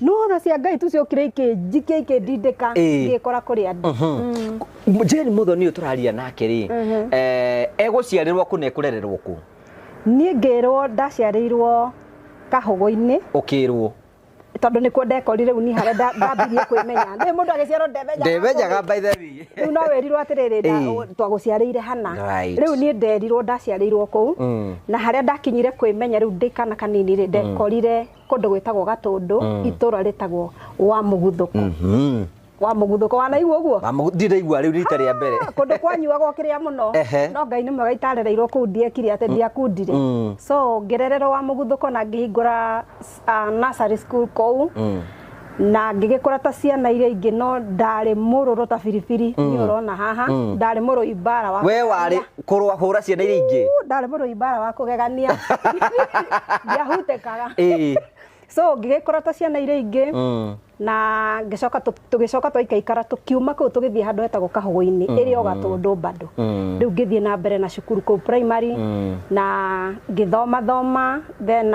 no na cia ngai tu ciokire ikĩnjikia ikĩndindĩka Ĩĩ. ngĩkora kũrĩ andũ Mm. jeni muthoni uyu turaria nake ri eh, eguciarirwo ku na ekurererwo ku niĩ ngĩrwo ndaciarĩirwo kahũgũ-inĩ ukirwo tondå nä kuo ndekorire u ni harä a ndambirie kwä menya nä må ndå agä ciarwo ndemenyaga by the way rä u no wä rirwo atä rä rä Ĩĩ. twagå ciarä ire hana Right. rä u niä nderirwo ndaciarä irwo kå u Mm. na harä a ndakinyire kwä menya rä u ndä kana kanini rä ndekorire kũndũ gwĩtagwo gatũndũ mm. itũra rĩtagwo wa mũguthũko mm -hmm wa muguthũko wanaigua ũguo ndiraigua rĩu rita rĩa mbere kũndũ kwanyuagwo kĩrĩa mũno no ngai nĩ mwega itarereirwo kuu ndiekire atĩ mm. ndiakundire mm. so ngĩrererwo wa muguthũko na ngĩhingũra uh, nursery school kũu mm. na ngĩgĩkũra ta ciana iria ingĩ no ndarĩ mũrũrũ ta biribiri mm. niĩ ũrona haha mm. ndarĩ mũrũi mbara wa we warĩ kũrũa hũra ciana iria ingĩ ndarĩ mũrũi mbara wa kũgegania ndiahutĩkaga so ngĩgĩkũra ta ciana iria ingĩ mm. na ngĩcoka tũgĩcoka twaikaikara tũkiuma kũu tũgĩthiĩ handũ hetagwo kahũgũ-inĩ mm. ĩrĩ o gatũndũ bado mm. rĩu ngĩthiĩ na mbere na cukuru kũu primary na ngĩthoma thoma then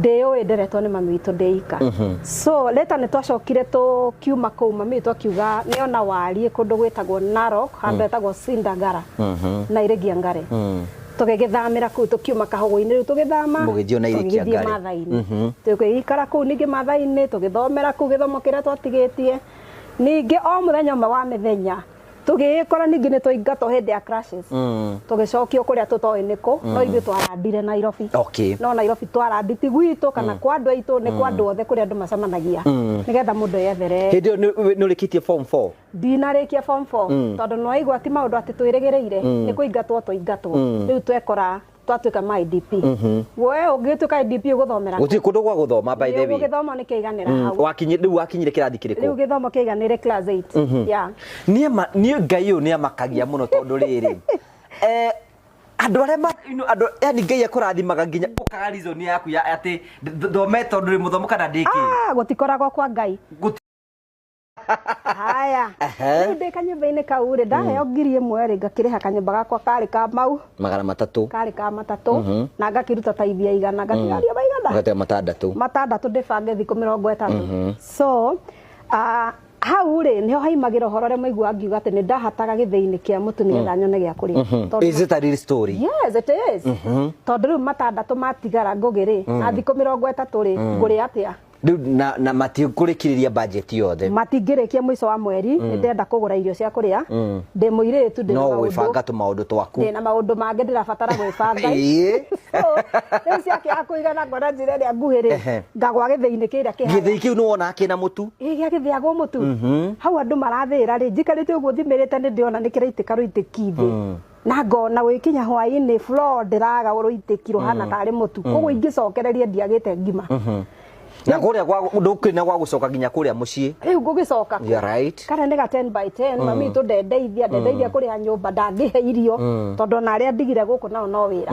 ndĩyũĩ nderetwo nĩ mami witũ ndĩ ika mhm. so rĩta nĩ twacokire tũkiuma kũu mami witũ akiuga nĩ ona wariĩ kũndũ gwĩtagwo narok handũ mm. etagwo sindagara mhm. na irĩgia ngare mm. tũgĩgĩthamĩra kũu tũkiuma kahũgũ-inĩ rĩu tũgĩthama tũgĩthiĩ mathainĩ mhm. tũgĩikara kũu ningĩ mathainĩ tũgĩthomera kũu gĩthomo kĩrĩa twatigĩtie ningĩ o mũthenya ũmwe wa mĩthenya tũgĩgĩkora ningĩ nĩ twaingatwo hĩndĩ ya crashes tũgĩcokio kũrĩa tũtoĩ nĩ kũ no ithuĩ twarandire nairobi Okay. no nairobi twarandi ti gwitũ kana kwa andũ aitũ nĩ kwa andũ othe kũrĩa andũ macemanagia nĩgetha mũndũ eyethere hĩndĩ ĩyo nĩ- nĩ ũrĩkĩtie form 4 ndinarĩkia form 4 tondũ nĩwaigua ti maũndũ atĩ twĩrĩgĩrĩire nĩ kũingatwo tũingatwo rĩu twekora twatuĩka ma IDP we ũngĩtuĩka IDP ũgũthomera gũtirĩ kũndũ gwa gũthoma by the way ũgĩthoma nĩ kĩiganĩra Mm, hau wakinyi- rĩu wakinyire kĩrathi rĩu kĩrĩkũ gĩthomo kĩiganĩre class 8 yeah niĩ ma- niĩ ngai ũyũ nĩ amakagia mũno tondũ rĩrĩ eh, andũ arĩa ma- you know, andũ yani ngai akũrathimaga nginya ũkaga reason yaku ya atĩ th- thomete tondũ rĩ mũthomu kana ndĩkĩ ah gũtikoragwo kwa ngai haya Ehe. rĩu ndĩ kanyũmba-inĩ kau rĩ ndaheo ngiri ĩmwe rĩ ngakĩrĩha kanyũmba gakwa karĩ ka mau magana matatũ karĩ ka matatũ na ngakĩruta taithia igana ngatigaria maigana ũgatega matandatũ matandatũ ndĩbange thikũ mĩrongo ĩtatũ so ah, hau rĩ nĩho haimagĩra ũhoro ũrĩa maigua ngiuga atĩ nĩ ndahataga gĩthĩinĩ kĩa mũtu nĩgetha nyone gĩa kũrĩa Tondũ- is it a real story yes it is tondũ rĩu matandatũ matigara ngũgĩ rĩ na thikũ mĩrongo ĩtatũ rĩ ngũrĩa atĩa Rĩu na, na matikũrĩkĩrĩria bajeti yothe matingĩrĩkia mũico wa mweri nĩ ndĩrenda kũgũra irio cia kũrĩa ndĩ mũirĩtu ndĩ na no maũndũ gwĩbanga tũmaũndũ twaku ndĩ na maũndũ mangĩ ndĩrabatara gwĩbanga Ĩĩ. So, rĩu ciake ya kũigana ngona njĩra ĩrĩa nguhĩ rĩ Ehe. ngagwa gĩthĩinĩ kĩrĩa kĩha gĩthĩi kĩu nĩ wonaga kĩna mũtu ĩ gĩa gĩthĩagwo mũtu hau andũ marathĩĩra rĩ njikarĩte ũguo thimĩrĩte nĩ ndĩona nĩ kĩraitĩka rũitĩki thĩ na ngona gũgĩkinya hwaĩ-inĩ floor ndĩraga rũitĩki rũhana tarĩ mũtu koguo ingĩcokereria ndiagĩte ngima na kũrĩa gwa- ndũkĩrĩ na gwa gũcoka nginya kũrĩa mũciĩ rĩu ngũgĩcoka kũ? You're right. karĩa nĩ ga 10 by 10 mami witũ ndendeithia ndendeithia kũrĩha nyũmba ndangĩhe irio tondũ ona arĩa ndigire gũkũ nao no wĩra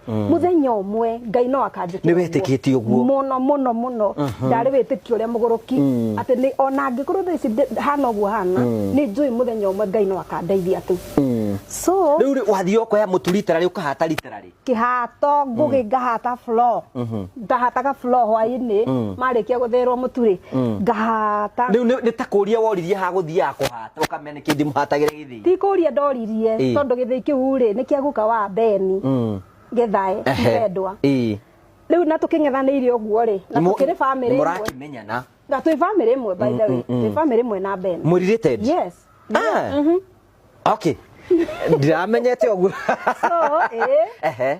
muthenya umwe ngai no akanjikira Nĩwetĩkĩtie ũguo. muno muno muno ndarĩ wĩtĩkio ũrĩa mũgũrũki atĩ nĩ ona angĩkorwo thaa ici ndĩ- hana ũguo hana nĩ njũĩ mũthenya ũmwe ngai no akandeithia tu so rĩu rĩ, wathiĩ ũkoya mũtu rita rĩ ũkahata rita rĩ kihato ngugi ngahata flo ndahataga flo hwainĩ marĩkia gũthĩrwo mũturĩ ngahata rĩu nĩ nĩ ta kũria woririe ha gũthiaga kũhata ũkamenya nĩkĩndi mũhatagĩre gĩthĩ ti kũria ndoririe Ĩĩ. tondũ gĩthĩi kĩu rĩ nĩ kĩa guka wa beni Mm. gĩthae Ehe. ndendwa Ĩĩ. rĩu na tũkĩng'ethanĩire ũguo rĩ na Nĩmũ- tũkĩrĩ bamĩrĩ ĩmwe nĩmũrakĩmenyana na twĩ bamĩrĩ ĩmwe by the way twĩ bamĩrĩ ĩmwe na beni mũrirĩted yes Ah. okay ndiramenyete ũguo so eh Ehe.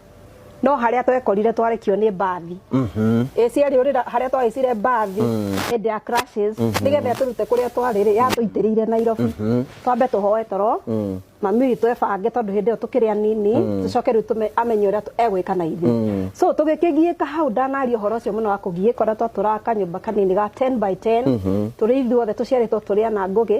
no harĩa twekorire twarekio nĩ mbathi ĩ ciarĩ ũrĩra harĩa twahaicire mbathi hĩndĩ ya crashes nĩgetha tũrute kũrĩa twarĩ rĩ yatũitĩrĩire Nairobi twambe tũhoe toro mami witũ ebange tondũ hĩndĩ ĩyo tũkĩrĩ anini tũcoke rĩu tũme- amenye ũrĩa tũ- egwĩka na ithuĩ so tũgĩkĩgiĩka hau ndanaria ũhoro ũcio mũno wa kũgiĩka ũrĩa twatũraga kanyũmba kanini ga 10 by 10 tũrĩ ithuothe tũciarĩtwo tũrĩ ana ngũgĩ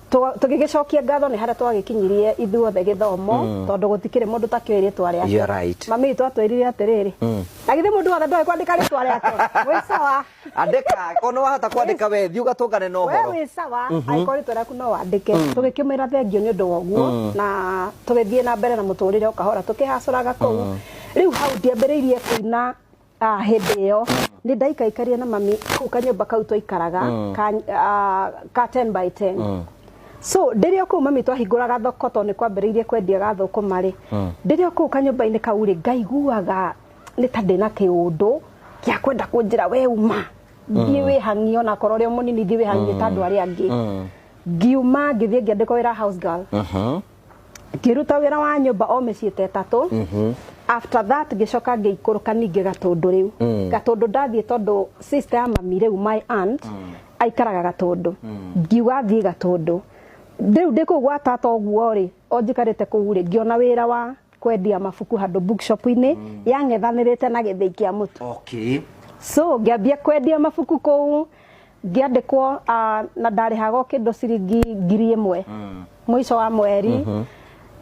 Twa- tũgĩgĩcokia ngatho nĩ harĩa twagĩkinyirie ithuothe gĩthomo tondũ gũtikĩrĩ mũndũ ũtakĩũĩ rĩtwa You're rĩake right. mami witũ atwĩrire atĩrĩrĩ na githĩ mũndũ wothe ndoĩ kwandĩka rĩtwa rĩake wĩ sawa andĩka ona wahota kwandĩka we thiĩ ũgatũngane na we ũhoro wĩ sawa angĩkorwo rĩtwa rĩaku no wandĩke tũgĩkĩmwĩra thengio nĩ ũndũ wa ũguo na tũgĩthiĩ na mbere na mũtũrĩre o kahora tũkĩhacũraga kũu rĩu hau ndiambĩrĩirie kũina Ah, hĩndĩ ĩyo nĩ ndaikaikarire na mami kau kanyũmba kau twaikaraga ka, ah, ka 10 by 10 so ndĩrĩ o kũu mami twahingũraga thoko tondũ nĩ kwambĩrĩirie kwendia ga thũkũma rĩ ndĩrĩ o kũu kanyũmba-inĩ kau rĩ ngaiguaga nĩ ta ndĩna kĩũndũ gĩa kwenda kũnjĩra we uma thiĩ wĩhang'ie ona korwo ũrĩ o mũnini thiĩ wĩhang'ie ta andũ arĩa angĩ ngiuma ngĩthiĩ ngĩandĩkwo wĩra house girl Aha. ngĩruta wĩra wa nyũmba o mĩciĩ ta ĩtatũ mhm. after that ngĩcoka ngĩikũrũka ningĩ gatũndũ rĩu mm. gatũndũ ndathiĩ tondũ sister ya mami rĩu my aunt mm. aikaraga gatũndũ mm. ngiuga thiĩ gatũndũ rĩu ndĩ kũu gwa tata ũguo rĩ o njikarĩte kũu rĩ ngĩona wĩra wa kwendia mabuku handå bookshop-inä yang'ethanä te na gä thä i kä a må tu okay so ngĩambia kwendia mabuku kũu ngĩandĩkwo ah, na ndarĩhaga o kĩndũ ciringi ngiri ĩmwe mũico wa mweri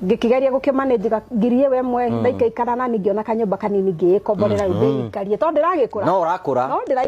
ngĩkĩgeria gũkĩmanĩnjĩka ngiri ĩwe ĩmwe ndaikaikara na ningĩ ona kanyũmba kanini ngĩĩkomborera rĩu ndĩikarie tondũ ndĩragĩkũra no ũrakũra no ndĩra